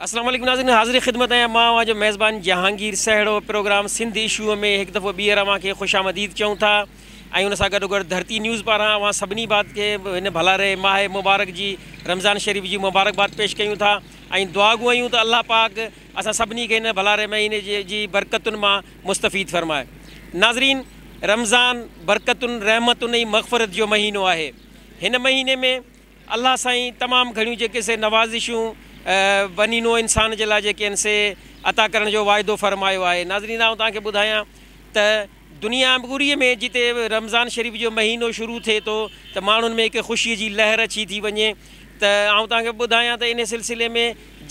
اسلام عليڪم ناظرين حاضر خدمت آهيان مان اوهان جو ميزبان جهانگير سهڙو پروگرام سنڌ ايشو ۾ هڪ دفعو ٻيهر اوهان کي خوش آمديد چئون ٿا ۽ ان سان گڏو گڏ ڌرتي نيوز پاران اوهان سڀني بات کي هن ڀلاري ماهي مبارڪ جي رمضان شريف جي مبارڪباد پيش ڪيون ٿا ۽ دعا گو آهيون ته الله پاڪ اسان سڀني کي هن ڀلاري مهيني جي برڪتن مان مستفيد فرماء. ناظرين! رمضان برڪتن، رحمتن ۽ مغفرت جو مهينو آهي. هن مهيني ۾ الله سائين تمام گهڻيون جيڪي سي نوازشون بني نوع انسان جي لاء جيڪي آهن سي عطا ڪرڻ جو واعدو فرمايو آهي. ناظرين آئون توهان کي ٻڌايان ته دنيا پوريء ۾ جتي رمضان شريف جو مهينو شروع ٿئي ٿو ته ماڻهن ۾ هڪ خوشيء جي لهر اچي ٿي وڃي ته آئون توهان کي ٻڌايان ته ان سلسلي ۾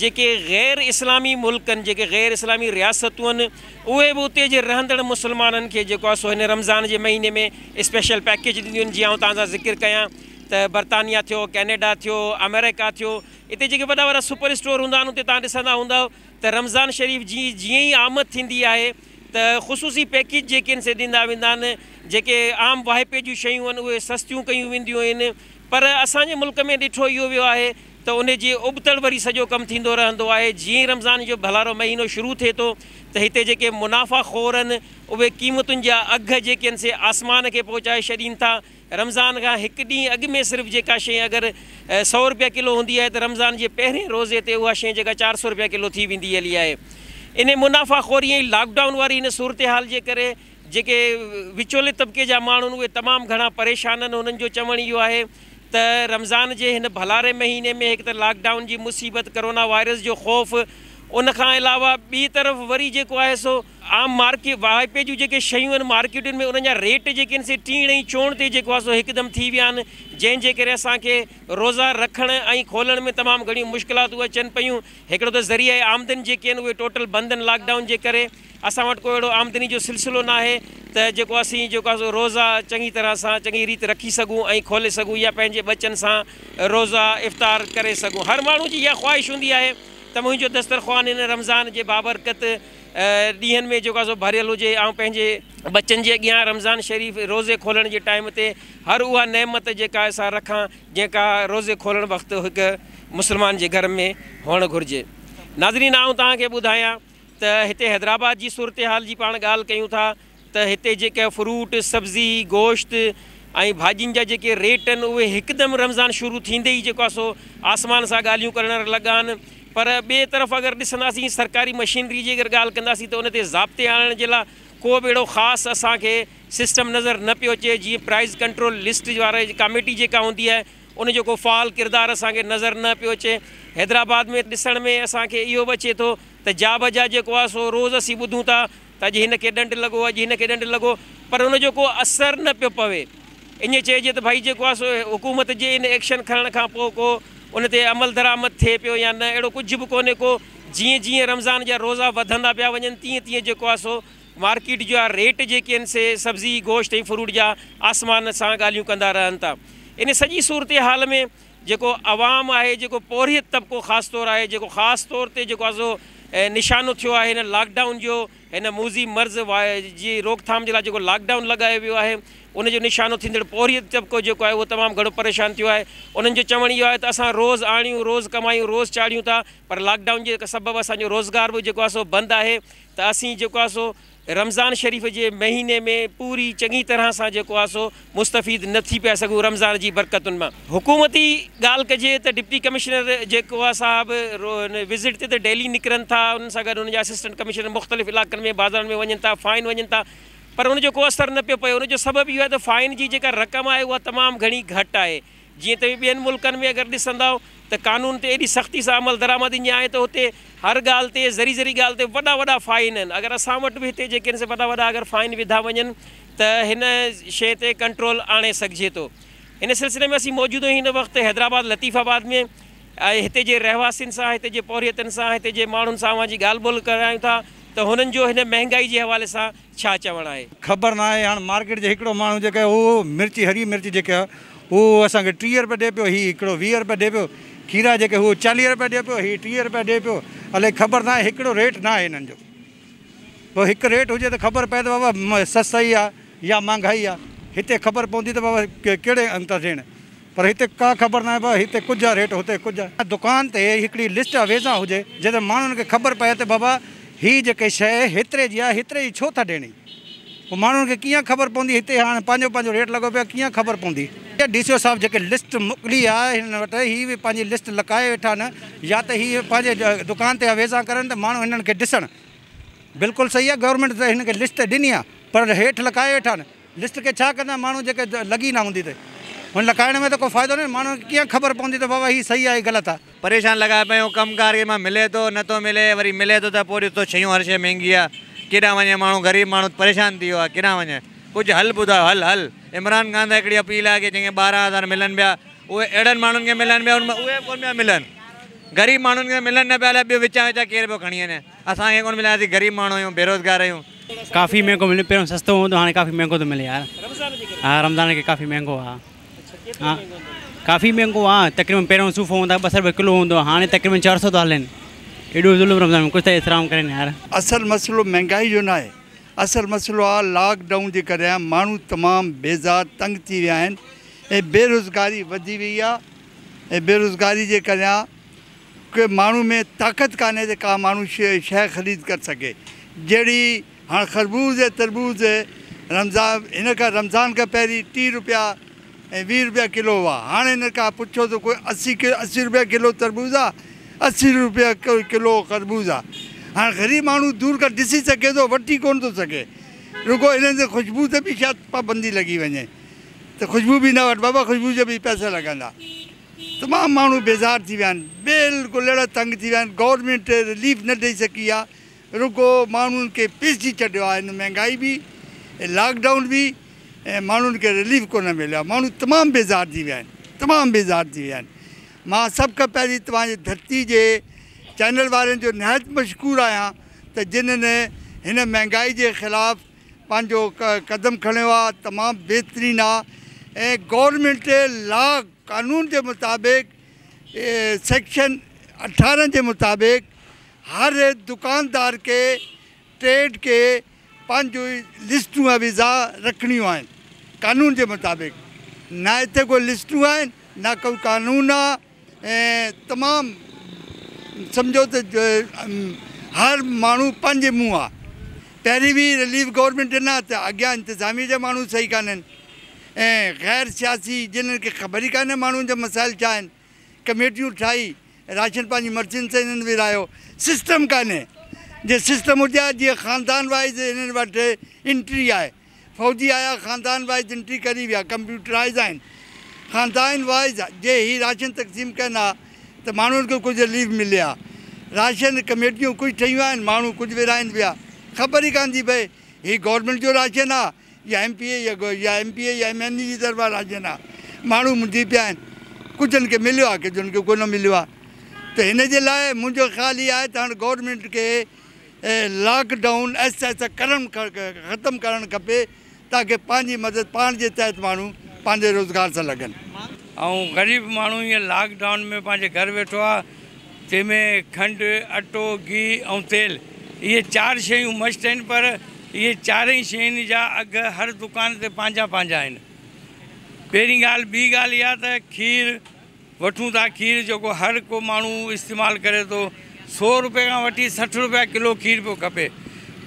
جيڪي غير اسلامي ملڪن جيڪي غير اسلامي رياستون آهن اهي به اتي جي رهندڙ مسلمانن کي جيڪو آهي سو هن رمضان جي مهيني ۾ اسپيشل پيڪيج ڏينديون آهن جيئن آئون توهان سان ذڪر ڪيان ته برطانيا ٿيو ڪينيڊا ٿيو آمريڪا ٿيو اتي جيڪي وڏا وڏا سپر اسٽور هوندا آهن اتي توهان ڏسندا هوندؤ ته رمضان شريف جي جيئن ئي آمد ٿيندي آهي ته خصوصي پيڪيج جي ڪن سي ڏيندا ويندا آهن، جيڪي عام واهپي جون شيون آهن اهي سستيون ڪيون وينديون آهن پر اسان جي ملڪ ۾ ڏٺو اهو ويو آهي ته ان جي ابتڙ وري سڄو ڪم ٿيندو رهندو آهي، جيئن ئي رمضان جو ڀلارو مهينو شروع ٿئي ٿو ته هتي جيڪي منافع خور آهن اهي قيمتن جا اگهه جي ڪن سي آسمان کي پهچائي ڇڏين ٿا رمضان کان هڪ ڏينهن اڳ ۾ صرف جيڪا شيء اگر سؤ روپيه ڪلو هوندي آهي ته رمضان جي پهرين روزي تي اها شيء جيڪا چار سؤ روپيه ڪلو ٿي ويندي هلي آهي. انهي منافعه خوري ۽ لاڪ ڊائون واري هن صورتحال جي ڪري جيڪي وچولي طبقي جا ماڻهو آهن اهي تمام گهڻا پريشان آهن انهن جو چوڻ اهو آهي ته رمضان جي هن ڀلاري مهيني ۾ هڪ ته لاڪ ڊائون جي مصيبت ڪرونا وائرس جو خوف ان کان علاوه ٻي طرف وري جيڪو آهي سو عام مارڪيٽ واهپي جون جيڪي شيون آهن مارڪيٽن ۾ انهن جا ريٽ جيڪي آهن سي ٽيڻ ۽ چوڻ تي جيڪو آهي سو هڪدم ٿي ويا آهن جنهن جي ڪري اسان کي روزا رکڻ ۽ کولڻ ۾ تمام گهڻيون مشڪلاتون اچن پيون هڪڙو ته ذريعه آمدن جيڪي آهن اهي ٽوٽل بند آهن لاڪ ڊائون جي ڪري اسان وٽ ڪو اهڙو آمدني جو سلسلو ناهي ته جيڪو اسين جيڪو آهي سو روزا چڱي طرح سان چڱي ريت رکي سگهون ۽ کولي سگهون يا پنهنجي ٻچن سان روزا افطار ڪري سگهون هر ماڻهو جي اها خواهش هوندي آهي ته منهنجو دسترخوان هن رمضان جي بابرڪت ڏينهن ۾ جيڪو آهي سو ڀريل هجي. آئون پنهنجي ٻچن جي اڳيان رمضان شريف روزي کولڻ جي ٽائيم تي هر اها نعمت جيڪا آهي سا رکان جيڪا روزي کولڻ وقت هڪ مسلمان جي گهر ۾ هئڻ گهرجي. ناظرين آئون توهان کي ٻڌايان ته هتي حيدرآباد جي صورتحال جي پاڻ ڳالهه ڪيون ٿا. ته هتي جيڪا فروٽ، سبزي، گوشت ۽ ڀاڄين جا جيڪي ريٽ آهن اهي هڪدم رمضان شروع ٿيندي ئي جيڪو آهي سو آسمان سان ڳالهيون ڪرڻ لڳا آهن پر ٻئي طرف اگر ڏسنداسين سرڪاري مشينري جي اگر ڳالهه ڪنداسين ته ان تي ضابطي آڻڻ جي لاء ڪو به اهڙو خاص اسان کي سسٽم نظر نه پيو اچي جيئن پرائز ڪنٽرول لسٽ واري ڪاميٽي جيڪا هوندي آهي ان جو ڪو فعال ڪردار اسان کي نظر نه پيو اچي حيدرآباد ۾ ڏسڻ ۾ اسان کي اهو به اچي ٿو ته جا بجا جيڪو آهي سو روز اسين ٻڌون ٿا ته اڄ هن کي ڏنڊ لڳو، اڄ هن کي ڏنڊ لڳو، پر ان جو ڪو اثر نه پيو پوي. ائين چئجي ته ڀائي جيڪو آهي سو حڪومت جي ان ايڪشن کڻڻ کان پوء ڪو ان تي عملدرآمد ٿئي پيو يا نه، اهڙو ڪجهه به ڪونهي ڪو. جيئن جيئن رمضان جا روزا وڌندا پيا وڃن تيئن تيئن جيڪو آهي سو مارڪيٽ جا ريٽ جيڪي آهن سي سبزي، گوشت ۽ فروٽ جا آسمان سان ڳالهيون ڪندا رهن ٿا. ان سڄي صورتحال ۾ جيڪو عوام آهي، جيڪو پورهيت طبقو خاص طور آهي، جيڪو خاص طور تي جيڪو آسو نشانو ٿيو آهي هن لاڪ ڊائون جو، هن موذي مرض واء جي روڪ ٿام جي لاء جيڪو لاڪ ڊائون لڳايو ويو آهي، ان جو نشانو ٿيندڙ پورهيت طبقو جيڪو آهي اهو تمام گهڻو پريشان ٿيو آهي، انهن جو چوڻ اهو آهي ته اسان روز آڻيون، روز ڪمايون، روز چاڙهيون ٿا پر لاڪ ڊائون جي سبب اسان جو روزگار به جيڪو آسو بند آهي ته اسين جيڪو آسو. رمضان شريف جي مهيني ۾ پوري چڱي طرح سان جيڪو آهي سو مستفيد نه ٿي پيا سگهون رمضان جي برڪتن مان حڪومتي ڳالهه ڪجي ته ڊپٽي ڪمشنر جيڪو آهي صاحب وزٽ تي ته ڊيلي نڪرن ٿا انهن سان گڏ ان جا اسسٽنٽ ڪمشنر مختلف علائقن ۾ بازارن ۾ وڃن ٿا فائن وڃن ٿا پر ان جو ڪو اثر نه پيو پئي ان جو سبب اهو آهي ته فائن جي جيڪا رقم آهي اها تمام گهڻي گهٽ آهي جيئن توهين ٻين ملڪن ۾ اگر ڏسندؤ ته قانون تي ايڏي سختي سان عمل درآمد ايئن آهي ته هتي هر ڳالهه تي ذري ذري ڳالهه تي وڏا وڏا فائن آهن اگر اسان وٽ به هتي جيڪي سي وڏا وڏا اگر فائن وڌا وڃن ته هن شيء تي ڪنٽرول آڻي سگهجي ٿو هن سلسلي ۾ اسين موجوده هن وقت حيدرآباد لطيف آباد ۾ هتي جي رهواسين سان هتي جي پورهيتن سان هتي جي ماڻهن سان اوهان جي ڳالهه ٻولهه ڪرايون ٿا ته هنن جو هن مهنگائي جي حوالي سان ڇا چوڻ آهي. خبر ناهي هاڻ مارڪيٽ جي هڪڙو ماڻهو جيڪا اهو مرچ هري مرچ جيڪا اهو اسان کي ٽيهه رپيا ڏي پيو هي هڪڙو ويهه رپيا ڏي پيو کيرا جيڪا اهو چاليهه رپيا ڏي پيو هي ٽيهه رپيا ڏي پيو الائي خبر ناهي هڪڙو ريٽ ناهي هنن جو ڀو هڪ ريٽ هجي ته خبر پئي ته بابا سستائي آهي يا مهانگائي آهي هتي خبر پوندي ته بابا ڪهڙي انت ڏيڻ. پر هتي ڪا خبر ناهي بابا هتي ڪجهه ريٽ هتي ڪجهه. دڪان تي هڪڙي لسٽ اويزان هجي جنهن تي ماڻهن کي خبر پئي ته بابا هي جيڪي شيء هيتري جي آهي هيتري جي ڇو ٿا ڏيڻي پوء ماڻهن کي ڪيئن خبر پوندي هتي هاڻ پنهنجو پنهنجو ريٽ لڳو پيو آهي ڪيئن خبر پوندي. ڊي سي او صاحب جيڪي لسٽ موڪلي آهي هنن وٽ هي به پنهنجي لسٽ لڪائي ويٺا آهن يا ته هي پنهنجي دڪان تي اويزان ڪرن ته ماڻهو هنن کي ڏسڻ بلڪل صحيح آهي گورنمينٽ ته هنن کي لسٽ ڏني آهي پر هيٺ لڪائي ويٺا آهن. لسٽ کي ڇا ڪندا ماڻهو جيڪي لڳي نه هوندي ته هن لڪائڻ ۾ ته ڪو فائدو ناهي ماڻهن کي ڪيئن خبر پوندي ته بابا هي صحيح آ هي غلط آ. پريشان لڳا پيو ڪم ڪار ڪنهن مان ملي ٿو نه ٿو ملي وري ملي ٿو ته پوء ڏس تو شيون هر شي مهنگي آ ڪيڏانهن وڃي ماڻهو غريب ماڻهو پريشان ٿي ويو آ ڪيڏانهن وڃي ڪجهه حل ٻڌايو حل حل عمران خان سان هڪڙي اپيل آ ڪي جنهن کي ٻارهن هزار ملن پيا اهي اهڙن ماڻهن کي ملن پيا ان مان اهي به ڪونه پيا ملن غريب ماڻهن کي ملن نه پيا الاء ٻيو وچان وچان ڪير پيو کڻي وڃي. اسان کي ڪونه ملي اسين غريب ماڻهو آهيون بيروزگار آهيون. ڪافي مهنگو ملي پهريون سستو هوندو هاڻي ڪافي مهنگو ٿو ملي يار ها رمضان کي ڪافي مهنگو ها ها ڪافي مهنگو ها تقريبن پهريون صوفو هوندا ٻه سئو روپيه ڪلو هوندو ها هاڻي تقريبن چار سئو ٿو هلين ايڏو ظلم رمضان ۾ ڪجهه ته احترام ڪرين يار. اصل مسئلو مهنگائي جو ناهي اصل مسئلو آ لاڪ ڊائون جي ڪري آهي ماڻهو تمام بيزار تنگ ٿي ويا آهن ۽ بيروزگاري وڌي وئي آ ۽ بيروزگاري جي ڪري ڪي ماڻهو ۾ طاقت ڪانهي ته ڪا ماڻهو شيء خريد ڪر سگهي جهڙي هاڻ خربوز ۽ تربوز رمضان هن کان رمضان کان پهرين ٽي روپيا ۽ ويهه روپيا ڪلو هئا هاڻ هن کان پڇو ته ڪوئي اسي اسي روپيا ڪلو تربوز آ اسي روپيا ڪلو خربوز آ هاڻ غريب ماڻهو دور کان ڏسي سگهي ٿو وٺي ڪونه ٿو سگهي رڳو هنن تي خوشبو تي به شايد پابندي لڳي وڃي ته خوشبو به نه وٺ بابا خوشبو جا به پئسا لڳندا. تمام ماڻهو بيزار ٿي ويا آهن بلڪل اهڙا تنگ ٿي ويا آهن گورنمينٽ رليف نه ڏئي سگهي آهي رڳو ماڻهن کي پيسي ڇڏيو آهي هن مهنگائي به لاڪ ڊائون به ۽ ماڻهن کي رليف ڪونه مليو آهي ماڻهو تمام بيزار ٿي ويا آهن تمام بيزار ٿي ويا آهن مان سڀ کان پهرين توهان جي ڌرتي جي چينل وارن جو نهايت مشڪور آهيان ته جنهن هن مهنگائي جي خلاف پنهنجو قدم کڻيو آ تمام بهترين آ ۽ گورنمينٽ لا قانون جي مطابق سيڪشن اٺارنهن جي مطابق هر دڪاندار کي ٽريڊ کي پنهنجو لسٽون اويزا رکڻيون آهن قانون جي مطابق نه هتي ڪو لسٽون آهن نه ڪو قانون آ. ۽ تمام سمجهو ته هر ماڻهو پنهنجي منهن آ پهرين به رليف گورنمينٽ ڏنا ته اڳيان انتظاميه جا ماڻهو صحيح ڪانهن ۽ غير سياسي جنهن کي خبر ئي ڪانهي ماڻهن جا مسائل ڇا آهن ڪميٽيون ٺاهي راشن پنهنجي مرضين سان هنن ورهايو سسٽم ڪانهي جي سسٽم هجي ها جيئن خاندان وائيز هنن وٽ انٽري آهي فوجي آيا خاندان وائز انٽري ڪري ويا ڪمپيوٽرائز آهن خاندائن وائز جي هي راشن تقسيم ڪن ها ته ماڻهن کي ڪجهه رليف ملي ها راشن ڪميٽيون ڪجهه ٺهيون آهن ماڻهو ڪجهه ورهائين ويا خبر ئي ڪان ٿي پئي هي گورنمينٽ جو راشن ها يا ايم پي اي يا ايم پي اي يا ايم اين اي جي طرفان راشن ها ماڻهو منجهي پيا آهن ڪجهن کي مليو ها ڪجهن کي ڪونه مليو ها ته هن جي لاء منهنجو خيال هي آهي ته هاڻ گورنمينٽ کي لاڪ ڊائون آهستي آهستي ڪرڻ ختم ڪرڻ کپي تاڪه پنهنجي مدد پاڻ جي تحت ماڻهو پنهنجي روزگار سان لڳن ۽ غريب ماڻهو هينئر لاڪ ڊائون ۾ پنهنجي گهر ويٺو آهي جنهن ۾ کنڊ، اٽو، گيهه ۽ تيل اهي چار شيون مشٽ آهن پر اهي چارئي شين جا اگهه هر دڪان تي پنهنجا پنهنجا آهن پهرين ڳالهه ٻي ڳالهه اها ته کير، وٺون ٿا کير جيڪو هر ڪو ماڻهو استعمال ڪري ٿو سو روپي کان وٺي سٺ روپيا ڪلو کير پيو کپي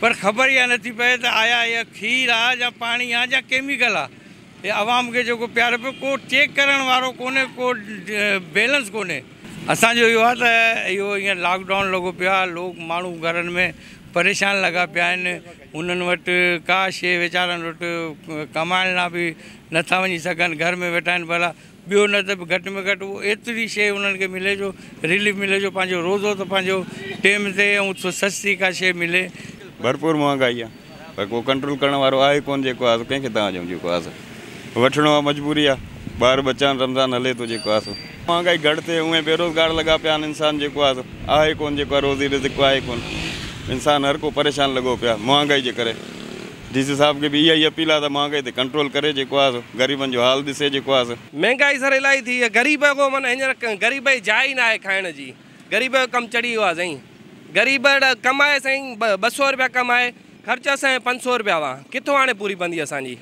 پر خبر اها نٿي پئي ته آيا اها کير آ يا پاڻي آ يا ڪيميڪل آ هي عوام کي جيڪو پياري پيو ڪو چيڪ ڪرڻ وارو ڪونهي ڪو بيلنس ڪونهي. اسان جو اهو آ ته اهو هينئر لاڪ ڊائون لڳو پيو آ لوڪ ماڻهو گهرن ۾ پريشان لڳا پيا آهن انهن وٽ ڪا شيء ويچارن وٽ ڪمائڻ لا به نٿا وڃي سگهن گهر ۾ ويٺا آهن ڀلا ٻيو نه ته به گهٽ ۾ گهٽ اهو ايتري شيء انهن کي ملي جو ريليف ملي جو پنهنجو روزو ته پنهنجو ٽيم تي ۽ سستي ڪا شيء ملي. ڀرپور مهانگائي آ پر ڪو ڪنٽرول ڪرڻ وارو آهي ڪونه جيڪو آ سو ڪنهن کي تان ڏيون جيڪو آ سو وٺڻو آ مجبوري آ ٻار ٻچا آهن رمضان هلي ٿو جيڪو آ سو مهانگائي گهٽ ٿئي اونئين بيروزگار لڳا پيا آهن انسان جيڪو آ سو آهي ڪونه جيڪو آ روزي رزق آهي ڪونه انسان هر ڪو پريشان لڳو پيو آ مهانگائي جي ڪري. ڊي سي صاحب کي به اها ئي اپيل آ ته مهانگائي تي ڪنٽرول ڪري جيڪو آ سو غريبن جو حال ڏسي جيڪو آ سو. مهنگائي سر الاهي ٿي آ غريب اڳو من هينئر غريب کي جاء ئي ناهي کائڻ جي غريب جو ڪم چڙهي ويو آ سائين غريب اڙا ڪمائي سائين ٻه سؤ روپيا ڪمائي خرچ اسانجا پنج سؤ روپيا هئا ڪٿو هاڻي پوري پوندي اسانجي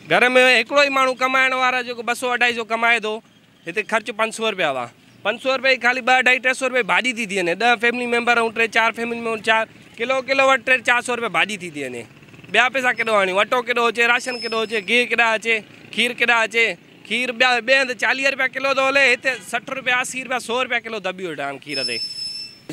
گهر ۾ هڪڙو ئي ماڻهو ڪمائڻ وارا جيڪو ٻه سؤ اڍائي سؤ ڪمائي ٿو هتي خرچ پنج سؤ روپيا هئا. پنج سؤ روپيا جي خالي ٻه اڍائي ٽي سؤ روپيا جي ڀاڄي ٿي ٿي وڃي. ڏهه فيملي ميمبر ائون ٽي چار فيملي ميمبر چار ڪلو ڪلو وٽ ٽي چار سؤ روپيا ڀاڄي ٿي ٿي وڃي. ٻيا پئسا ڪيڏو آڻيون؟ اٽو ڪيڏو اچي؟ راشن ڪيڏو اچي؟ گيهه ڪيڏا اچي؟ کير ڪيڏا اچي؟ کير ٻيا ٻئي هنڌ چاليهه روپيا ڪلو ٿو هلي هتي سٺ روپيا اسي روپيا سؤ روپيا ڪلو دٻي ويٺا آهن کير تي.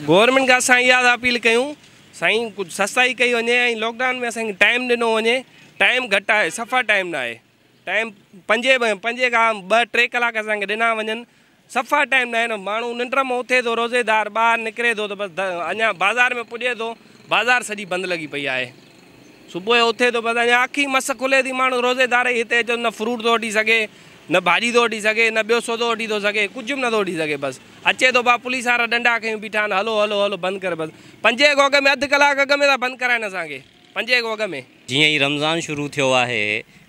گورنمينٽ کان اسان اها ٿا اپيل ڪيون سائين ڪجهه سستائي ڪئي وڃي ۽ لاڪ ڊائون ۾ اسان کي ٽائيم ڏنو وڃي. ٽائيم گهٽ آهي صفا ٽائيم نه آهي. ٽائيم پنجين پنجين کان ٻه ٽي ڪلاڪ اسان کي ڏنا وڃن صفا ٽائيم ناهي نه ماڻهو ننڊ مان اٿي ٿو روزيدار ٻاهر نڪري ٿو ته بس اڃا بازار ۾ پڄي ٿو بازار سڄي بند لڳي پئي آهي صبح جو اٿي ٿو بس اڃا اک ئي مس کلي ٿي ماڻهو روزيدار ئي هتي اچو نه فروٽ ٿو وٺي سگهي نه ڀاڄي ٿو وٺي سگهي نه ٻيو سودو وٺي ٿو سگهي ڪجهه به نٿو وٺي سگهي بس اچي ٿو ڀا پوليس وارا ڏنڊا کيون بيٺا آهن هلو هلو هلو بند ڪر بس پنجين کان اڳ ۾ اڌ ڪلاڪ اڳ ۾ ٿا بند ڪرائن اسان کي پنجين کان اڳ ۾ جيئن ئي رمضان شروع ٿيو آهي،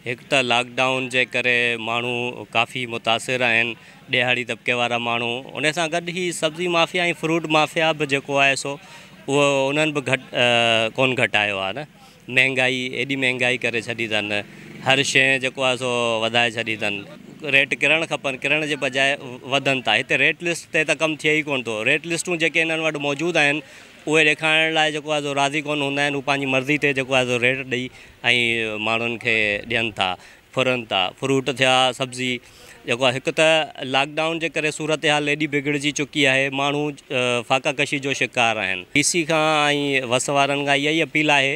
هڪ ته لاڪ ڊائون جي ڪري ماڻهو ڪافي متاثر آهن، ڏيهاڙي طبقي وارا ماڻهو، ان سان گڏ هي سبزي مافيا ۽ فروٽ مافيا به جيڪو آهي سو اهو انهن به گهٽ ڪونه گهٽايو آهي نه، مهنگائي ايڏي مهنگائي ڪري ڇڏي اٿن، هر شيء جيڪو آهي سو وڌائي ڇڏي اٿن، ريٽ ڪرڻ کپن ڪرڻ جي بجاء وڌن ٿا، هتي ريٽ لسٽ تي ته ڪم ٿئي ئي ڪونه ٿو، ريٽ لسٽون جيڪي انهن وٽ موجود آهن اهي ڏيکارڻ لاء جيڪو آهي سو راضي ڪونه هوندا آهن، هو پنهنجي مرضي تي جيڪو آهي سو ريٽ ڏئي ۽ ماڻهن کي ڏين ٿا ڦرن ٿا فروٽ ٿيا سبزي جيڪو آهي هڪ ته لاڪ ڊائون جي ڪري صورتحال ايڏي بگڙجي چڪي آهي ماڻهو فاقا ڪشي جو شڪار آهن ڊي سي کان ۽ وس وارن کان اها ئي اپيل آهي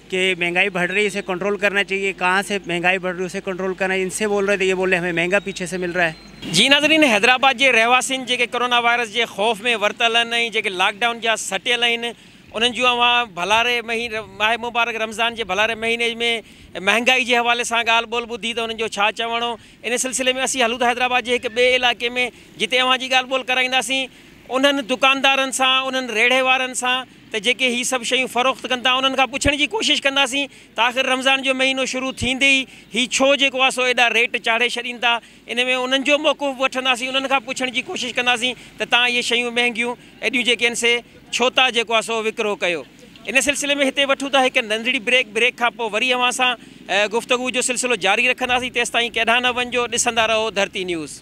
ڪي مهنگائي بڙ رهي اسي ڪنٽرول ڪرنا چاهيي ڪهان سي مهنگائي بڙ رهي اسي ڪنٽرول ڪرنا چاهيي ان سي بول رهي ته يه بول رهي همي مهنگا پيڇي سي مل رها هي. جي ناظرين حيدرآباد جي رهواسين جيڪي ڪورونا وائرس جي خوف ۾ ورتل آهن ۽ جيڪي لاڪ ڊائون جا سٽيل آهن انهن جون اوهان ڀلاري مهيني ماهه مبارڪ رمضان جي ڀلاري مهيني ۾ مهنگائي جي حوالي سان ڳالهه ٻولهه ٻڌي ته انهن جو ڇا چوڻو ان سلسلي ۾ اسين هلون ٿا حيدرآباد جي هڪ ٻئي علائقي ۾ جتي اوهان جي ڳالهه ٻولهه ڪرائينداسين انهن دڪاندارن سان انهن ريڙهي وارن سان ته جيڪي هي سڀ شيون فروخت ڪن ٿا انهن کان پڇڻ جي ڪوشش ڪنداسين ته آخر رمضان جو مهينو شروع ٿيندي ئي هي ڇو جيڪو آهي سو ايڏا ريٽ چاڙهي ڇڏين ٿا ان ۾ انهن جو موقف به وٺنداسين انهن کان پڇڻ جي ڪوشش ڪنداسين ته توهان اهي شيون مهنگيون ايڏيون جيڪي آهن سي ڇو ٿا جيڪو آهي سو وڪرو ڪيو ان سلسلي ۾ هتي وٺون ٿا هڪ ننڍڙي بريڪ بريڪ کان پوء وري اوهان سان گفتگو جو سلسلو جاري رکنداسين تيستائين ڪيڏانهن نه وڃجو ڏسندا رهو ڌرتي نيوز.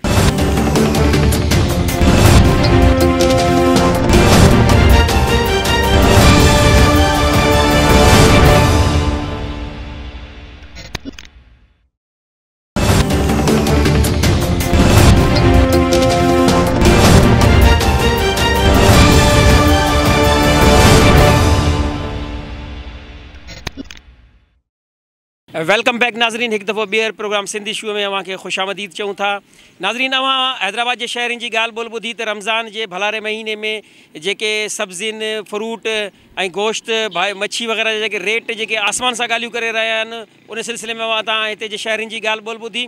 ويلڪم بيڪ ناظرين هڪ دفعو ٻيهر پروگرام سنڌي شو ۾ اوهان کي خوش آمديد چئون ٿا ناظرين اوهان حيدرآباد جي شهرين جي ڳالهه ٻولهه ٻڌي ته رمضان جي ڀلاري مهيني ۾ جيڪي سبزين فروٽ ۽ گوشت مڇي وغيره جا جيڪي ريٽ جيڪي آسمان سان ڳالهيون ڪري رهيا آهن ان سلسلي ۾ اوهان تان هتي جي شهرين جي ڳالهه ٻولهه ٻڌي.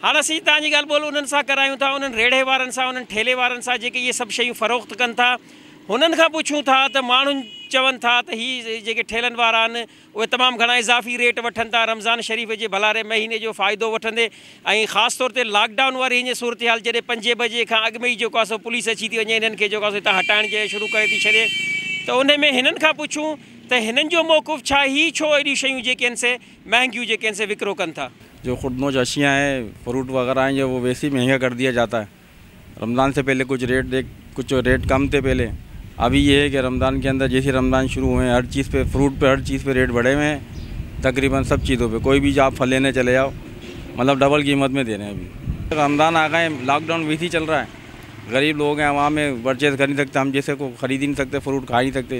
هاڻ اسين تان جي ڳالهه ٻولهه انهن سان ڪرايون ٿا، انهن ريڙهي وارن سان، انهن ٺيلهي وارن سان جيڪي اهي سڀ شيون فروخت ڪن ٿا. هنن کان پڇون ٿا ته ماڻهن چون ٿا ته هي جيڪي ٺيلهن وارا آهن اهي تمام گهڻا اضافي ريٽ وٺن ٿا رمضان شريف جي ڀلاري مهيني جو فائدو وٺندي ۽ خاص طور تي لاڪ ڊائون واري هينئين صورتحال جڏهن پنجين بجي کان اڳ ۾ ئي جيڪو آهي سو پوليس اچي ٿي وڃي هنن کي جيڪو آهي سو هتان هٽائڻ جي شروع ڪري ٿي ڇڏي ته انهي ۾ هنن کان پڇون ته هنن جو موقف ڇا هي ڇو اهڙيون شيون جيڪي آهن سي مهنگيون جيڪي آهن سي وڪرو ڪن ٿا. جو خود نوش اشيا هين فروٽ وغيره هين جو ويسي مهنگا ڪر ديا جاتا هين رمضان سي پهلي ڪچ ريٽ ديک ڪچ ريٽ ڪم تي پهلي ابهي يي هي ڪي رمضان ڪي اندر جيسي رمضان شروع هوئين هر چيز پي فروٽ پي هر چيز پي ريٽ بڙهي هوئين تقريبن سب چيزو پي ڪوئي بهي جاپ فليني چلي جاؤ مطلب ڊبل قيمت مي دي رهين ابهي رمضان آگا هين لاڪ ڊائون ويسي چل رها هين غريب لوگ هين عوام هين پرچيز ڪر نهي سڪتا هم جيسي ڪو خريد هي نهي سڪتي فروٽ کائي نهي سڪتي.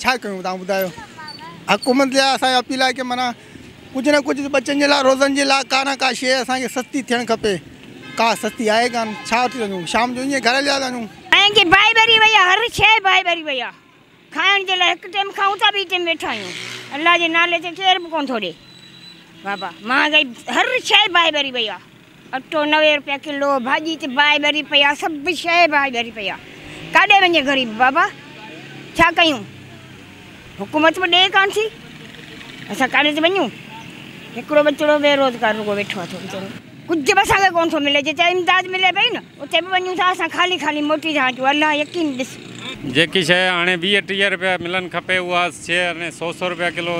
ڇا ڪيون توهان ٻڌايو حڪومت جا اسان جا اپيل آهي ڪي معنيٰ ڪجهه نه ڪجهه ٻچن جي لاء روزن جي لاء ڪا نه ڪا شيء اسان کي سستي ٿيڻ کپي ڪا سستي آهي ڪان ڇا وٺي ٿا وڃون شام جو ائين گهر هليا ٿا وڃون. ائين جي باهه ٻري وئي آهي هر شيء باهه ٻري وئي آهي کائڻ جي لاء هڪ ٽيم کائون ٿا ٻي ٽيم ويٺا آهيون الله جي نالي تي ڪير به ڪون ٿو ڏي بابا مهانگائي هر شيء باهه ٻري وئي آهي. اٽو نوي روپيا ڪلو ڀاڄي تي باهه ٻري پئي آ سڀ شئي باهه ٻري پئي آ ڪاڏي وڃي غريب بابا ڇا ڪيون حڪومت به ڏي ڪان ٿي اسان ڪاڏي تي وڃون هڪڙو ٻچڙو بي روزگار رڳو ويٺو آ ٿو ويچارو ڪجهه به اسان کي ڪون ٿو ملي جي چا امداد ملي پئي نه اتي به وڃون ٿا اسان خالي خالي موٽي رهان جو الله يقين ڏس. جيڪي شيء هاڻي ويهه ٽيهه رپيا ملن کپي اها شيء هاڻي سو سو رپيا ڪلو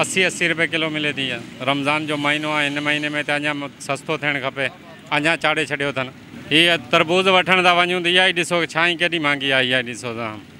اسي اسي رپيا ڪلو ملي ٿي رمضان جو مهينو آهي هن مهيني ۾ ته اڃا سستو ٿيڻ کپي اڃا چاڙهي ڇڏيو اٿن هي تربوز وٺڻ ٿا وڃون ته اها ئي ڏسو ڇانهين ڪيڏي مهانگي آهي اها ئي ڏسو ته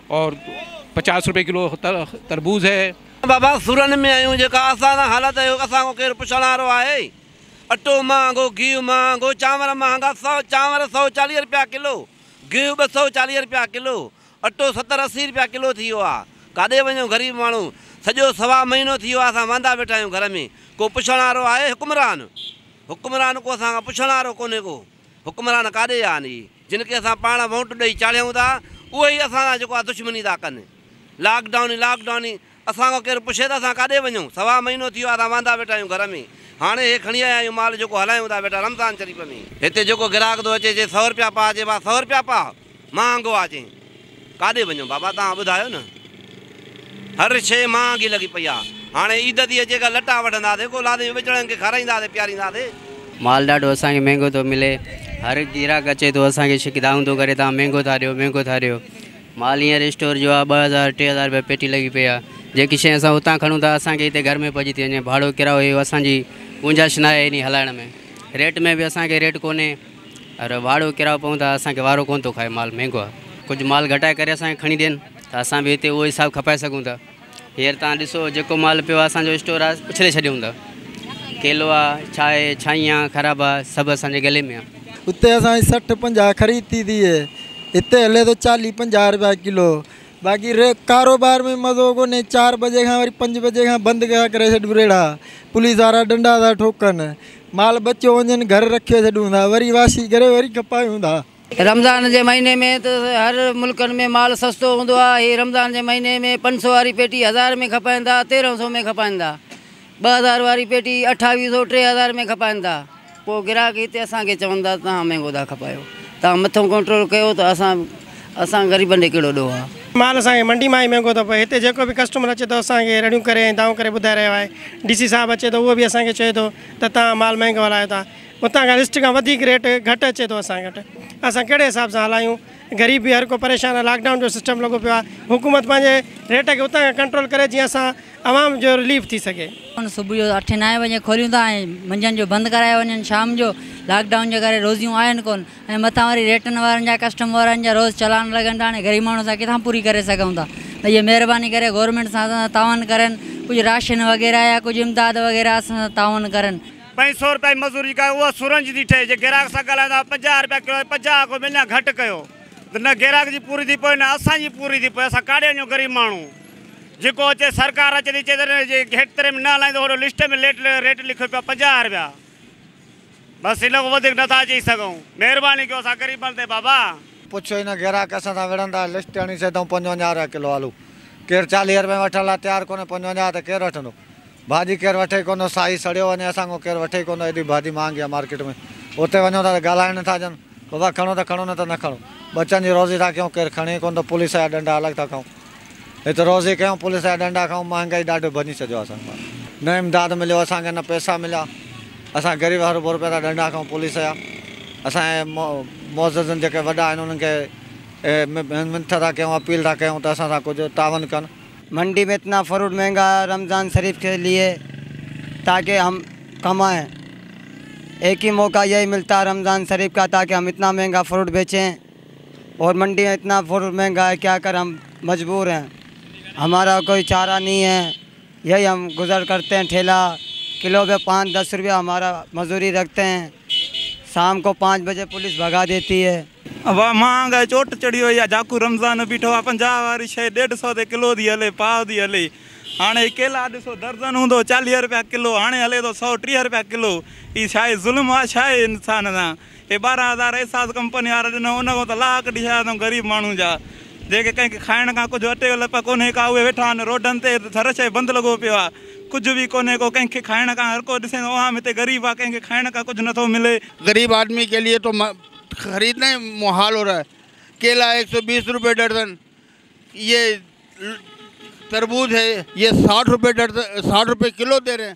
اور پچاس روپئي ڪلو تربوز هي. بابا سورن ۾ آهيون جيڪا اسان سان حالت اهي هو اسان کان ڪير پڇڻ وارو آهي اٽو مهانگو گيهه مهانگو چانور مهانگا سؤ چانور سؤ چاليهه روپيا ڪلو گيهه ٻه سؤ چاليهه روپيا ڪلو اٽو ستر اسي روپيا ڪلو ٿي ويو آهي ڪاڏي وڃون غريب ماڻهو سڄو سوا مهينو ٿي ويو آهي اسان واندا ويٺا آهيون گهر ۾ ڪو پڇڻ وارو آهي حڪمران حڪمران ڪو اسان کان پڇڻ وارو ڪونهي ڪو حڪمران ڪاڏي ويا آهن اهي. جن کي اسان پاڻ وونٽ ڏئي چاڙهيون ٿا اهي ئي اسان سان جيڪو آهي دشمني ٿا ڪن. لاڪ ڊائون ئي لاڪ ڊائون ئي اسان کان ڪير پڇي ته اسان ڪاڏي وڃون سوا مهينو ٿي ويو آهي اسان واندا ويٺا آهيون گهر ۾ هاڻي هي کڻي آيا آهيون مال جيڪو هلايون ٿا ويٺا رمضان شريف ۾ هتي جيڪو گراهڪ ٿو اچي چئي سؤ رپيا پاء چئبا سؤ رپيا پاء مهانگو آهي چئي. ڪاڏي وڃون بابا توهان ٻڌايو نه. هر شيء مهانگي لڳي پئي آ. هاڻي عيد تي اچي ڪا لٽا وٺنداسين ڪو لاڏي جو ٻچڙن کي کارائينداسين پيارينداسين. مال ڏاڍو اسان کي مهنگو ٿو ملي. هر گراهڪ اچي ٿو اسان کي شڪدائون ٿو ڪري توهان مهنگو ٿا ڏيو مهنگو ٿا ڏيو. مال هينئر اسٽور جو آ ٻه هزار ٽي هزار رپيا پيٽي لڳي پئي آ. جيڪي شيء اسان اتان کڻون ٿا اسان کي هتي گهر ۾ پئجي ٿي وڃي. ڀاڙو ڪرايو اهو اسان جي گنجائش ناهي انهي هلائڻ ۾. ريٽ ۾ به اسان کي ريٽ ڪونهي. اره واڙو ڪرايو پئون ٿا اسان کي وارو ڪونه ٿو کائي مال مهنگو آهي ڪجهه مال گهٽائي ڪري اسان کي کڻي ڏين ته اسان به هتي اهو حساب کپائي سگهون ٿا هينئر تان ڏسو جيڪو مال پيو آهي اسان جو اسٽور آهي اڇلي ڇڏيون ٿا ڪيلو آهي ڇاهي ڇائين آهي خراب آهي سڀ اسان جي گلي ۾ آهي اتي اسان جي سٺ پنجاهه خريد ٿي ٿئي هتي هلي ٿو چاليهه پنجاهه روپيا ڪلو باقي ڪاروبار ۾ مزو ڪونهي چار بجي کان وري پنج بجي کان بند ڪري ڇڏبو ريڙها پوليس وارا ڏنڊا ٿا ٺوڪن مال ٻچو وڃن گهر رکي ڇڏون ٿا وري واسي ڪري وري کپايون ٿا. رمضان جي مهيني ۾ ته هر ملڪن ۾ مال سستو هوندو آهي هي رمضان جي مهيني ۾ پنج سو واري پيٽي هزار ۾ کپائين ٿا تيرهن سو ۾ کپائين ٿا ٻه هزار واري پيٽي اٺاويهه سو ٽي هزار ۾ کپائين ٿا پوء گراهڪ هتي اسان کي چون ٿا ته تهان مهنگو ٿا کپايو تهان مٿو ڪنٽرول ڪيو ته اسان اسان غريبن ڏي ڪهڙو ڏوهه آ. مال اسان کي منڊي مان ئي مهنگو ٿو پوي هتي جيڪو به ڪسٽمر اچي ٿو اسان کي رڙيون ڪري ۽ دانهون ڪري ٻڌائي رهيو آهي ڊي سي صاحب اچي ٿو اهو به اسان کي چئي ٿو ته توهان مال مهنگو هلايو ٿا هتان کان لسٽ کان وڌيڪ ريٽ گهٽ اچي ٿو اسان کي اسان ڪهڙي حساب سان هلايون غريب به هر ڪو پريشان آهي لاڪ ڊائون جو سسٽم لڳو پيو آهي حڪومت پنهنجي ريٽ کي اتان کان ڪنٽرول ڪري جيئن اسان عوام جو رليف ٿي سگهي. دڪان صبح جو اٺين نائين بجي کوليون ٿا ۽ منجهند جو بند ڪرايا وڃن شام جو لاڪ ڊائون جي ڪري روزيون آهن ڪون. ۽ مٿان وري ريٽن وارن جا ڪسٽم وارن جا روز چلان لڳن ٿا هاڻي غريب ماڻهو اسان ڪٿان پوري ڪري سگهون ٿا ته اهي مهرباني ڪري گورنمينٽ سان اسان سان تعاون ڪرن ڪجهه راشن وغيره يا ڪجهه امداد وغيره اسان سان تعاون ڪرن. پنج سؤ روپيا جي مزوري جيڪا اها سرنج ٿي ٺهي جي گراهڪ سان ڳالهايو ته پنجاهه روپيا ڪلو آهي پنجاهه اگهه ۾ اڃا گهٽ ڪيو ته نه گراهڪ جي پوري ٿي پوي نه اسان جي پوري ٿي پوي اسان ڪاڏي وڃون غريب ماڻهو جيڪو اچي سرڪار اچي ٿي چئي ته جي گهٽ تري ۾ نه هلائيندو هوڏو لسٽ ۾ ليٽ ريٽ لکيو پيو آهي پنجاهه روپيا. بس ان کان وڌيڪ نٿا چئي سگهون. مهرباني ڪيو اسان غريبن تي بابا. پڇ هن گراهڪ اسان سان وڙهندا لسٽ هڻي سيڌئون پنجونجاهه رپيا ڪلو آلو ڪير چاليهه رپين وٺڻ لاء تيار ڪونهي پنجونجاهه ته ڪير وٺندو ڀاڄي ڪير وٺي ڪونهو سائي سڙيو وڃي اسان کان ڪير وٺي ڪونهو ايڏي ڀاڄي مهانگي آهي مارڪيٽ ۾ اتي وڃون ٿا ته ڳالهائڻ نه ٿا ڏين بابا کڻو ته کڻو نه ته نه کڻو ٻچن جي روزي ٿا ڪيون ڪير کڻي ڪونهو ته پوليس جا ڏنڊا الڳ ٿا کائون. هت روزي ڪيون پوليس جا ڏنڊا کائون مهانگائي ڏاڍو ڀڃي ڇڏيو آ اسان کان نه امداد مليو اسان کي نه پئسا مليا اسان غريب هرو ڀرو پيا ٿا ڏنڊا کائون پوليس جا اسان جي معززن جيڪي وڏا آهن انهن کي منٿ ٿا ڪيون اپيل ٿا ڪيون ته اسان سان ڪجهه تعاون ڪن. منڊي ۾ اتنا فروٽ مهنگا هي رمضان شريف کي ليي تاڪي هم ڪمائين ايڪ هي موقع يهي ملتا رمضان شريف کا تاڪي هم اتنا مهنگا فروٽ بيچين. اور منڊيان اتنا فروٽ مهنگا هي کيا کر هم مجبور هين همارا کوئي چارا نهين هي يهي هم گزر کرتي هين ٺيلا کلو به پانچ دس روپيا همارا مزوري رکتي هين سام کو پانچ بجي پوليس ڀگا ديتي هي. واهه مهانگائي چوٽ چڙهي وئي آ جاکو رمضان بيٺو آ پنجاهه واري شئي ڏيڍ سئو تي ڪلو ٿي هلي پاء ٿي هلي هاڻي ڪيلا ڏسو درزن هوندو چاليهه روپيا ڪلو هاڻي هلي ٿو سئو ٽيهه روپيا ڪلو هي شئي ظلم آ شئي انسان سان اهي ٻارهن هزار احساس ڪمپني وارا ڏنو ان کان ته لاها ڪڍي ڇڏيا اٿئون غريب ماڻهن جا جيڪي ڪنهن کي کائڻ کان ڪجهه اٽي جو لپ ڪونهي ڪا اهي ويٺا آهن روڊن تي ته هر شيء بند لڳو پيو آهي ڪجهه به ڪونهي ڪو ڪنهن کي کائڻ کان هر ڪو ڏسين ٿو عوام هتي غريب آهي ڪنهن کي کائڻ کان ڪجهه نٿو ملي. غريب آدمي ڪي ليئي تو خريدنا هي محال هو رها هي ڪيلا ايڪ سو بيس روپي ڏرزن يي تربوز هي يي ساٺ روپي ڏرزن ساٺ روپي ڪلو دي رهي هي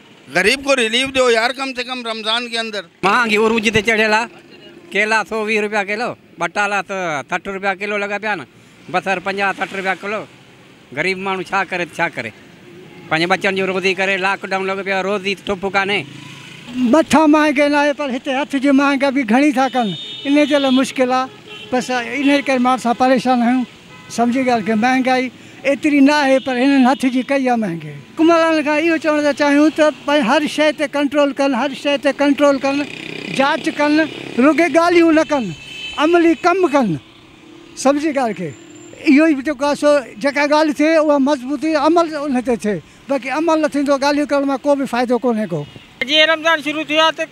غريب کو ريليف ڏيو يار ڪم سي ڪم رمضان ڪي اندر. مهانگي عروج تي چڙهيل آ ڪيلا سؤ ويهه روپيا ڪلو ٻٽالا ته سٺ روپيا ڪلو لڳا پيا آهن بصر پنجاهه سٺ روپيا ڪلو غريب ماڻهو ڇا ڪري ته ڇا ڪري پنهنجي ٻچن جون روزي ڪري لاڪ ڊائون لڳو پيو آهي روزي ته ٺپ ڪانهي. مٿان مهانگي ناهي پر هتي هٿ جي مهانگي به گهڻي ٿا ڪن انهي جي لاء مشڪل آ بس انهي ڪري ماڻهو سان پريشان آهيون. سمجهي ڳالهه ڪيو، مهانگائي ايتري نه آهي پر هنن هٿ جي ڪئي آهي مهانگي. حڪمرانن کان اهو چوڻ ٿا چاهيون ته هر شيء تي ڪنٽرول ڪن، هر شيء تي ڪنٽرول ڪن، جاچ ڪن، رڳي ڳالهيون نه ڪن، عملي ڪم ڪن، سمجهي ڳالهه کي، اهو ئي جيڪو آهي سو جيڪا ڳالهه ٿئي اها مضبوطي عمل ان تي ٿئي، باقي عمل نه ٿيندو، ڳالهيون ڪرڻ مان ڪو به فائدو ڪونهي ڪو. جيئن رمضان شروع ٿيو آهي ته.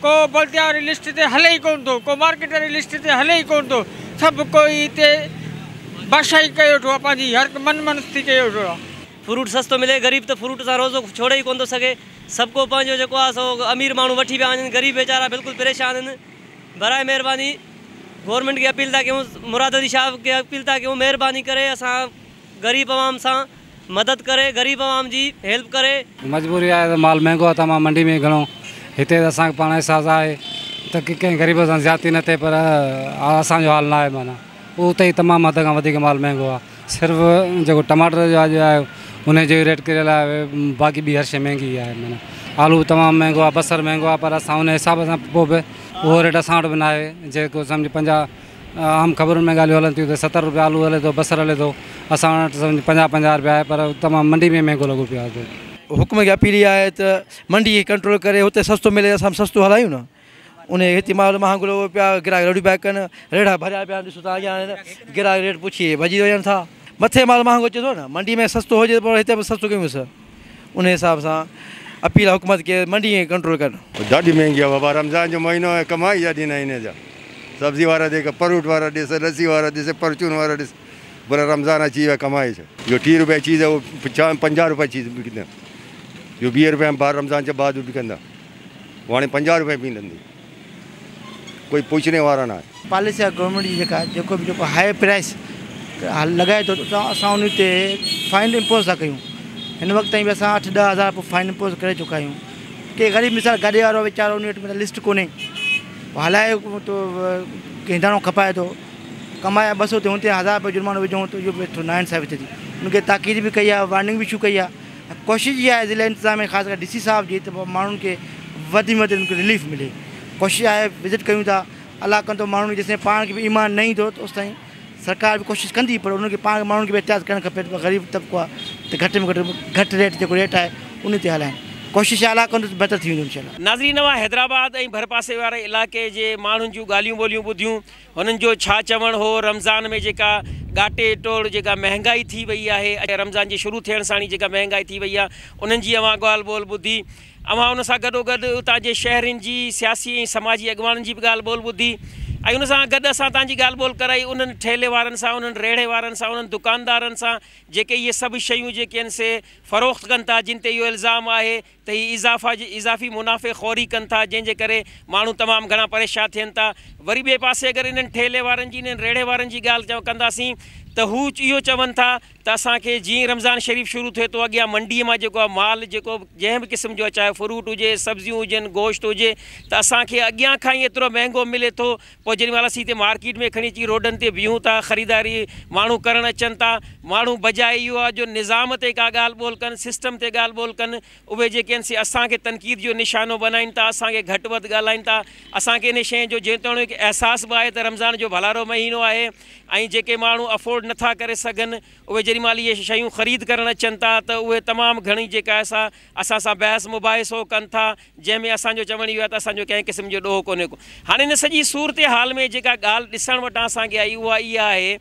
ڪو بلديا واري لسٽ تي هلي ئي ڪونه ٿو، ڪو مارڪيٽ واري لسٽ تي هلي ئي ڪونه ٿو، سڀ ڪو ئي هتي بادشاهي ڪيو ويٺو آهي پنهنجي، هر هڪ من منستي ڪيو ويٺو آهي. فروٽ سستو ملي، غريب ته فروٽ سان روزو ڇوڙي ئي ڪونه ٿو سگهي، سڀ ڪو پنهنجو جيڪو آهي سو امير ماڻهو وٺي پيا وڃن، غريب ويچارا بلڪل پريشان آهن، براء مهرباني گورنمينٽ کي اپيل ٿا ڪيون، مراد علي شاهه کي اپيل ٿا ڪيون مهرباني ڪري اسان غريب عوام سان مدد ڪري غريب عوام جي ھيلپ ڪري. مجبوري آھي ته مال مھنگو آھي ته امان منڊي ۾ گھڻو ھتي ته اسان کي پاڻ احساس آھي ته ڪنھن غريب سان زيادتي نه ٿئي پر اسان جو حال نه آھي معنيٰ اتي ئي تمام حد کان وڌيڪ مال مھنگو آھي صرف جيڪو ٽماٽر جو اڄ آھي انھي جو ئي ريٽ ڪريل آھي باقي ٻي ھر شيء مھنگي ئي آھي معنيٰ آلو به تمام مھنگو آھي بصر مھنگو آھي پر اسان ان حساب سان پوء به اھو ريٽ اسان وٽ به نه آھي جيڪو سمجھ پنجاھ عام خبرن ۾ ڳالهيون هلن ٿيون ته ستر روپيه آلو هلي ٿو بصر هلي ٿو اسان وٽ سمجهه پنجاهه پنجاهه روپيه آهي پر تمام منڊي ۾ مهنگو لڳو پيو آهي. حڪم کي اپيل اها آهي ته منڊي کي ڪنٽرول ڪري هتي سستو ملي اسان به سستو هلايون نه ان هتي مال مهانگو لڳو پيو آهي گراهڪ رڙيون پيا ڪن ريڙها ڀريا پيا آهن ڏسو تان اڳيان آهن گراهڪ ريٽ پڇي ڀڄي وڃن ٿا مٿي مال مهانگو اچي ٿو نه منڊي ۾ سستو هجي ته پوء هتي به سستو ڪيون سه. ان حساب سان اپيل آ حڪومت کي منڊي کي ڪنٽرول ڪرڻ. ڏاڍي مهنگي آ بابا رمضان جو مهينو آهي ڪمائي جا ڏينهن آهن هن جا سبزي وارا جيڪا پروٽ وارا ڏس لسي وارا ڏس پرچون وارا ڏس بولا رمضان اچي ويو آهي ڪمائي جو جو ٽي روپيه چيز آهي اهو چا پنجاهه روپيه چيز وڪندا جو ويهه روپيه رمضان جا بعد وڪندا هو هاڻي پنجاهه روپيه ملندي. ڪوئي پوڇڻي وارا نه آهن. پاليسي آهي گورنمينٽ جي جيڪا جيڪو به جيڪو هاء پرائس لڳائي ٿو ته اسان ان تي فائن امپوز ٿا ڪيون هن وقت تائين به اسان اٺ ڏهه هزار رپيو فائن امپوز ڪري چڪا آهيون ڪي غريب مثال گاڏي وارو ويچارو ان وٽ لسٽ ڪونهي هو هلائي تو هينڊاڻو کپائي ٿو ڪمايا ٻه سو ٿيون تي هزار رپيو جرمانو وجهون ته اهو به نا انصافي ٿئي ٿي ان کي تاڪيد به ڪئي آهي وارننگ به اشو ڪئي آهي ڪوشش اها آهي ضلعي انتظاميا خاص ڪري ڊي سي صاحب جي ته ماڻهن کي وڌ ۾ وڌ انهن کي رليف ملي ڪوشش آهي وزٽ ڪيون ٿا علاقن ته ماڻهن کي جيسين پاڻ کي به ايمان نه ايندو ته اوستائين سرڪار به ڪوشش ڪندي پر انهن کي پاڻ ماڻهن کي به احتياط ڪرڻ کپي ته غريب طبقو آهي ته گهٽ ۾ گهٽ گهٽ ريٽ جيڪو ريٽ آهي ان تي هلائين ڪوشش آهي علاقن ته بهتر ٿي ويندو انشاء الله. ناظرين اوهان حيدرآباد ۽ ڀرپاسي واري علائقي جي ماڻهن جون ڳالهيون ٻولهيون ٻڌيون هنن جو ڇا چوڻ هو رمضان ۾ جيڪا ڳاٽي ٽوڙ جيڪا مهنگائي ٿي وئي آهي ۽ رمضان جي شروع ٿيڻ ساڻ ئي جيڪا مهنگائي ٿي وئي آهي انهن جي اوهان ڳالهه ٻولهه ٻڌي اوهان ان سان گڏوگڏ اتان جي شهرين جي سياسي ۽ سماجي اڳواڻن جي به ڳالهه ٻولهه ٻڌي ۽ ان سان گڏ اسان تان جي ڳالهه ٻولهه ڪرائي انهن ٺيلهي وارن سان انهن ريڙهي وارن سان انهن دڪاندارن سان جيڪي اهي سڀ شيون جيڪي آهن سي فروخت ڪن ٿا جن تي اهو الزام آهي ته هي اضافا جي اضافي منافعي خوري ڪن ٿا جنهن جي ڪري ماڻهو تمام گهڻا پريشا ٿين ٿا وري ٻئي پاسي اگر انهن ٺيلهي وارن جي انهن ريڙهي وارن جي ڳالهه چون ڪنداسين ته هو اهو چون ٿا ته اسان کي جيئن ئي رمضان شريف شروع ٿئي ٿو اڳيان منڊي مان جيڪو آهي مال جيڪو جنهن به قسم جو آهي چاهي فروٽ هجي سبزيون هجن گوشت هجي ته اسان کي اڳيان کان ئي ايترو مهنگو ملي ٿو پوء جيڏي مهل اسين هتي مارڪيٽ ۾ کڻي اچي روڊن تي بيهون ٿا، خريداري ماڻهو ڪرڻ اچن ٿا، ماڻهو بجاء اهو آ جو نظام تي ڪا ڳالهه ٻولهه ڪن، سسٽم تي ڳالهه ٻولهه ڪن، اهي جيڪي آهن سي اسان کي تنقيد جو نشانو بنائين ٿا، اسان کي گهٽ وڌ ڳالهائين ٿا، اسان کي انهي شيء جو جيتوڻيڪ احساس به آهي ته رمضان جو ڀلارو مهينو آهي ۽ جيڪي ماڻهو افورڊ نه ٿا ڪري سگهن، اهي جيڏي مهل اهي شيون خريد ڪرڻ اچن ٿا ته اهي تمام گهڻي جيڪا آهي سا اسان سان بحث مباحثو ڪن ٿا، جنهن ۾ اسان جو چوڻ اهو آهي ته اسان جو ڪنهن قسم جو ڏوهه ڪونهي ڪو. هاڻي ان سڄي صورتحال ۾ جيڪا ڳالهه ڏسڻ وٽان اسان کي آئي اها اها آهي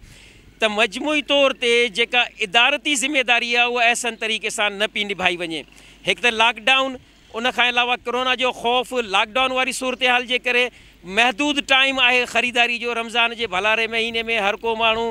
ته مجموعي طور تي جيڪا ادارتي ذميداري آهي اها احسن طريقي سان نه پئي نڀائي وڃي. هڪ ته لاڪ ڊائون ان کان علاوه ڪرونا جو خوف لاڪ ڊائون واري صورتحال جي ڪري محدود ٽائيم آهي خريداري جو رمضان جي ڀلاري مهيني ۾ هر ڪو ماڻهو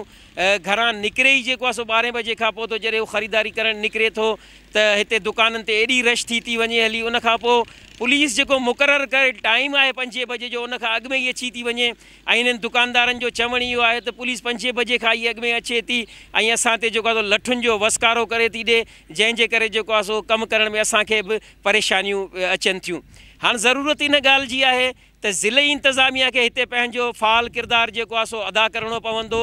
گهران نڪري ئي جيڪو آهي سو ٻارهين بجي کان پوء ٿو جڏهن هو خريداري ڪرڻ نڪري ٿو ته هتي دڪانن تي ايڏي رش ٿي ٿي وڃي هلي ان کان پوء پوليس جيڪو مقرر ڪيل ٽائيم آهي پنجين بجي جو ان کان اڳ ۾ ئي اچي ٿي وڃي ۽ هنن دڪاندارن جو چوڻ اهو آهي ته پوليس پنجين بجي کان ئي اڳ ۾ اچي ٿي ۽ اسان تي جيڪو آهي سو لٺن جو وسڪارو ڪري ٿي ڏي جنهن جي ڪري جيڪو آهي سو ڪم ڪرڻ ۾ اسان کي به پريشانيون اچن ٿيون هاڻ ضرورت ان ڳالهه جي آهي ته ضلعي انتظاميه کي هتي پنهنجو فعال ڪردار جيڪو آهي سو ادا ڪرڻو پوندو.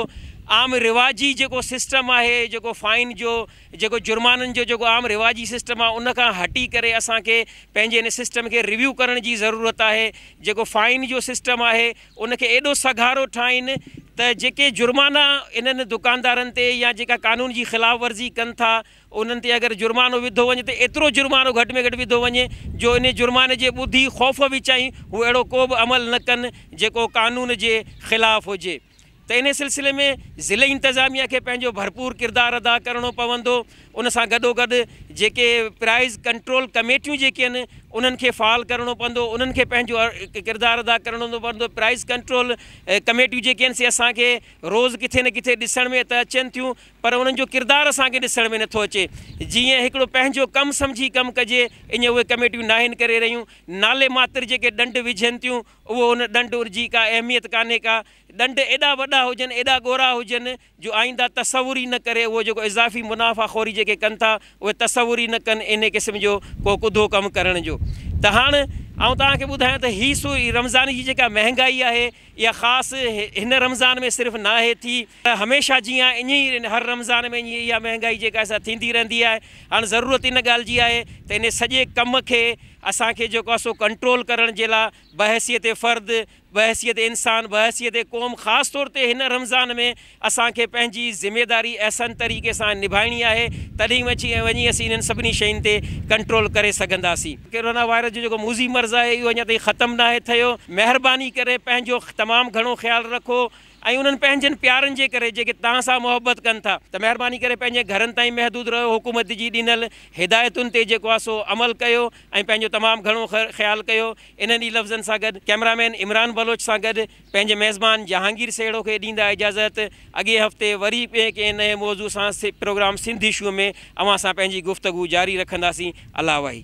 عام رواجي جيڪو سسٽم آهي جيڪو فائن جو جيڪو جرمانن جو جيڪو عام رواجي سسٽم آهي ان کان هٽي ڪري اسان کي پنهنجي ان سسٽم کي ريويو ڪرڻ جي ضرورت آهي. جيڪو فائن جو سسٽم آهي ان کي ايڏو سگهارو ٺاهين ته جيڪي جرمانا انهن دڪاندارن تي يا جيڪا قانون جي خلاف ورزي ڪن ٿا انهن تي اگر جرمانو وڌو وڃي ته ايترو جرمانو گهٽ ۾ گهٽ وڌو وڃي جو انهي جرماني جي ٻڌي خوف وچائين هو اهڙو ڪو به عمل نه ڪن جيڪو قانون جي خلاف هجي ته انهي سلسلي ۾ ضلعي انتظاميه کي پنهنجو ڀرپور ڪردار ادا ڪرڻو پوندو ان سان گڏوگڏ جيڪي پرائز ڪنٽرول ڪميٽيون جيڪي آهن انهن کي فعال ڪرڻو پوندو انهن کي پنهنجو ڪردار ادا ڪرڻو پوندو پرائز ڪنٽرول ڪميٽيون جيڪي آهن سي اسان کي روز ڪٿي نه ڪٿي ڏسڻ ۾ ته اچن ٿيون پر انهن جو ڪردار اسان کي ڏسڻ ۾ نٿو اچي جي ائين هڪڙو پنهنجو ڪم سمجهي ڪم ڪجي اڃ اهي ڪميٽيون ناهن ڪري رهيون نالي ماتر جيڪي ڏنڊ وجهين ٿيون اهو ان ڏنڊ جي ڪا اهميت ڪانهي ڪا ڏنڊ ايڏا وڏا هجن ايڏا ڳورا هجن جو آئينده تصور ئي نه ڪري اهو جيڪو اضافي منافعه خوري جيڪي ڪن ٿا اهي تصور ئي نه ڪن انهي قسم جو ڪو ڪڌو ڪم ڪرڻ جو ته هاڻ آئون توهان کي ٻڌايان ته هي سو رمضان جي جيڪا مهنگائي آهي اها خاص هن رمضان ۾ صرف ناهي ٿي پر هميشه جيان اڃ ئي هر رمضان ۾ اڃ اها مهنگائي جيڪا آهي سا ٿيندي رهندي آهي هاڻ ضرورت ان ڳالهه جي آهي ته ان سڄي ڪم کي اسان کي جيڪو آهي سو ڪنٽرول ڪرڻ جي لا بحيثيت فرد بحيثيت انسان بحيثيت قوم خاص طور تي هن رمضان ۾ اسان کي پنهنجي ذميداري احسن طريقي سان نڀائڻي آهي تڏهن وچي ۽ وڃي اسين انهن سڀني شين تي ڪنٽرول ڪري سگهنداسين. ڪرونا وائرس جو جيڪو موذي مرض آهي اهو اڃا تائين ختم ناهي ٿيو مهرباني ڪري پنهنجو تمام گهڻو خيال رکو ۽ انهن پنهنجن پيارن جي ڪري جيڪي توهان سان محبت ڪن ٿا ته مهرباني ڪري پنهنجي گهرن تائين محدود رهيو حڪومت جي ڏنل هدايتن تي جيڪو آهي سو عمل ڪيو ۽ پنهنجو تمام گهڻو خيال ڪيو انهن ئي لفظن سان گڏ ڪئميرا مين عمران بلوچ سان گڏ پنهنجي ميزبان جهانگير سهيڙو کي ڏيندا اجازت، اڳئين هفتي وري ٻئي ڪنهن نئين موضوع سان پروگرام سنڌ اشو ۾ اوهان سان پنهنجي گفتگو جاري رکنداسين. الله وحي.